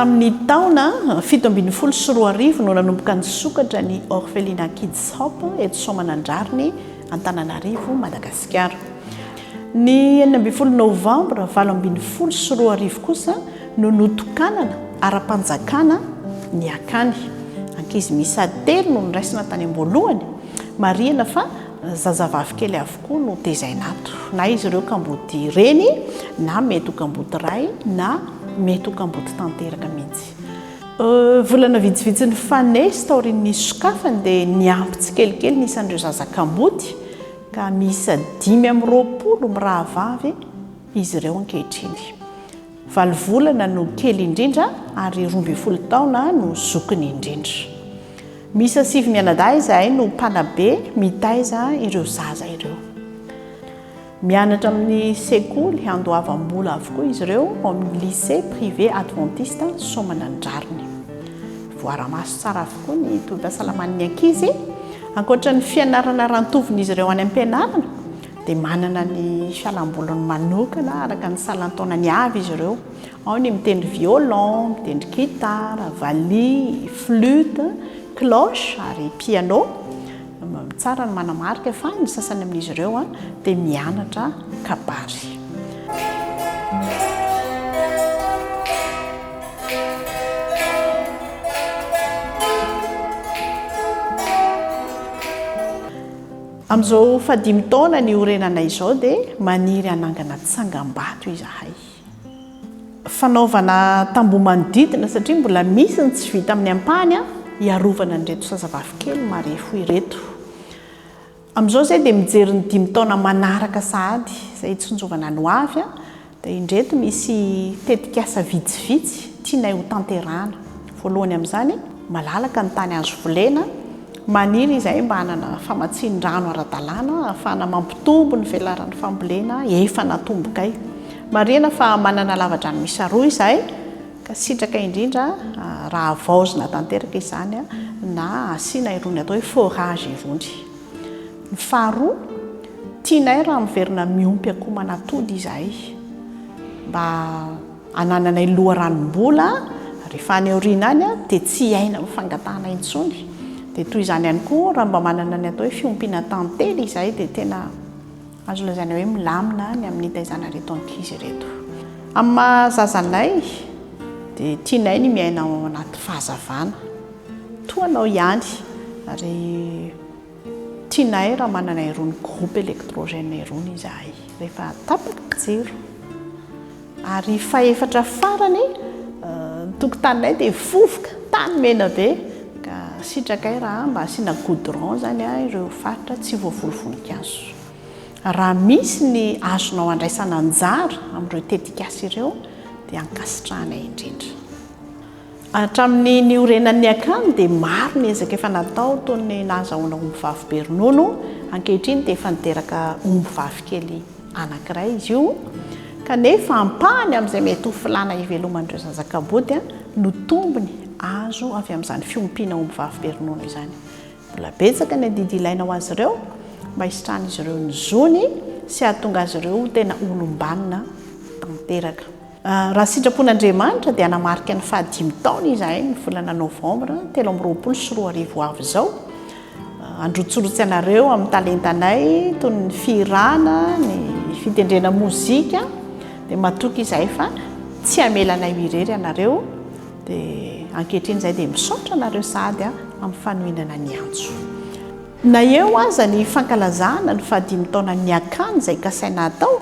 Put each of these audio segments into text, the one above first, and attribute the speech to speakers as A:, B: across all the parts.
A: Tamin'ny taona fito ambin'ny folo sy roa arivo no nanomboka nisokatra ny Orphelina Kids Hop eto Soamanandrariny, Antananarivo, Madagasikara. Ny enina ambin'ny folo novambra valo ambin'ny folo sy roa arivo kosa no notokanana ara-panjakana ny akany. Ankizy miisa telo no noraisina tany am-boalohany. Marihina fa Zazavavy kely avokoa no tezaina ato, na izy ireo kamboty reny, na mety ho kamboty ray, na mety ho kamboty tanteraka mihitsy. Volana vitsivitsy nifanesy taorian'ny sokafany dia niampy tsikelikely ny isan'ireo zaza kamboty ka miisa dimy amby roapolo mirahavavy izy ireo ankehitriny. Valo volana no kely indrindra ary roa ambin'ny folo taona no zokiny indrindra. Miisa sivy mianadahy izahay no mpanabe mitaiza ireo zaza ireo. Mianatra amin'ny sekoly andoavam-bola avokoa izy ireo ao amin'ny Lycée privé adventiste Soamanandrariny. Voara-maso tsara avokoa ny tobim-pahasalaman'ny ankizy, ankoatra ny fianarana ara-antovin'izy ireo any am-pianarana, dia manana ny fialam-boliny manokana araka ny salan-taonany avy izy ireo. Ao ny mitendry violon, mitendry gitara, valiha, flute, cloche ary piano. Tsara ny manamarika fa ny sasany amin'izy ireo dia mianatra kabary. Amin'izao fahadimy taona niorenanay izao dia maniry hanangana tsangambato izahay. Fanaovana tamboho manodidina satria mbola misy ny tsy vita amin'ny ampahany hiarovana an'ireto zazavavikely marefo ireto. Amin'izao izahay dia mijery ny dimy taona manaraka sahady izay hitsinjovana ny hoavy Dia indreto misy tetikasa vitsivitsy tianay ho tanterahana. Voalohany amin'izany, malalaka ny tany azo volena. Maniry izahay mba hanana famatsian-drano ara-dalàna ahafahana mampitombo ny velaran'ny fambolena efa natombokay. Marihina fa manana lavadrano miisa roa izahay ka sitraka indrindra raha havaozina tanteraka izany na asiana irony atao hoe forage irony. Ny faharoa, tianay raha miverina miompy akoho manatody izahay mba hanananay loharanom-bola rehefa any aoriana any dia tsy hiaina amin'ny fangatahana intsony. Dia toy izany ihany koa raha mba manana ny atao hoe fiompiana tantely izahay dia tena. Azo lazaina hoe milamina ny amin'ny hitaizana ireto ankizy ireto. Amin'ny maha zaza anay dia tianay ny miaina ao anaty fahazavana toa anao ihany ary tianay raha manana irony groupe électrogène irony izahay rehefa tapaka ny jiro. Ary fahefatra farany, ny tokotaninay dia vovoka, tany mena be, ka sitrakay raha mba asiana goudron izany ireo faritra tsy voavoly voninkazo. Raha misy ny azonao andraisana anjara amin'ireo tetikasa ireo dia ankasitrahanay indrindra. Hatramin'ny niorenan'ny akany dia maro ny ezaka efa natao toy ny nahazahoana ombivavy be ronono, ankehitriny dia efa niteraka ombivavy kely anankiray izy io, kanefa ampahany amin'izay mety ho filàna hiveloman'ireo zaza kaboty no tombony azo avy amin'izany fiompiana ombivavy be ronono izany. Mbola betsaka ny adidy ilaina ho azy ireo mba hisitrahan'izy ireo ny zony sy hahatonga azy ireo ho tena olom-banona tanteraka. Raha ny sitrapon'Andriamanitra dia hanamarika ny fahadimy taona izahay ny volana novambra telo amby roapolo sy roa arivo ho avy izao. Handrotsirotsy anareo amin'ny talentanay toy ny fihirana, ny fitendrena mozika dia matoky izahay fa tsy hamela anay ho irery ianareo dia ankehitriny izahay dia misaotra anareo sahady amin'ny fanohinana ny antso. Na eo aza ny fankalazana ny fahadimy taonan'ny Niakany izay kasaina hatao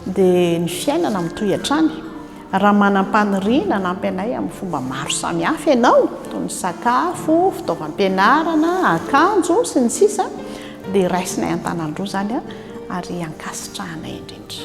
A: dia ny fiainana mitohy hatrany. Raha manam-paniriana hanampy anay amin'ny fomba maro samihafa ianao, toy ny sakafo, fitaovam-pianarana, akanjo, sy ny sisa dia raisinay an-tanan-droa izany ary ankasitrahanay indrindra.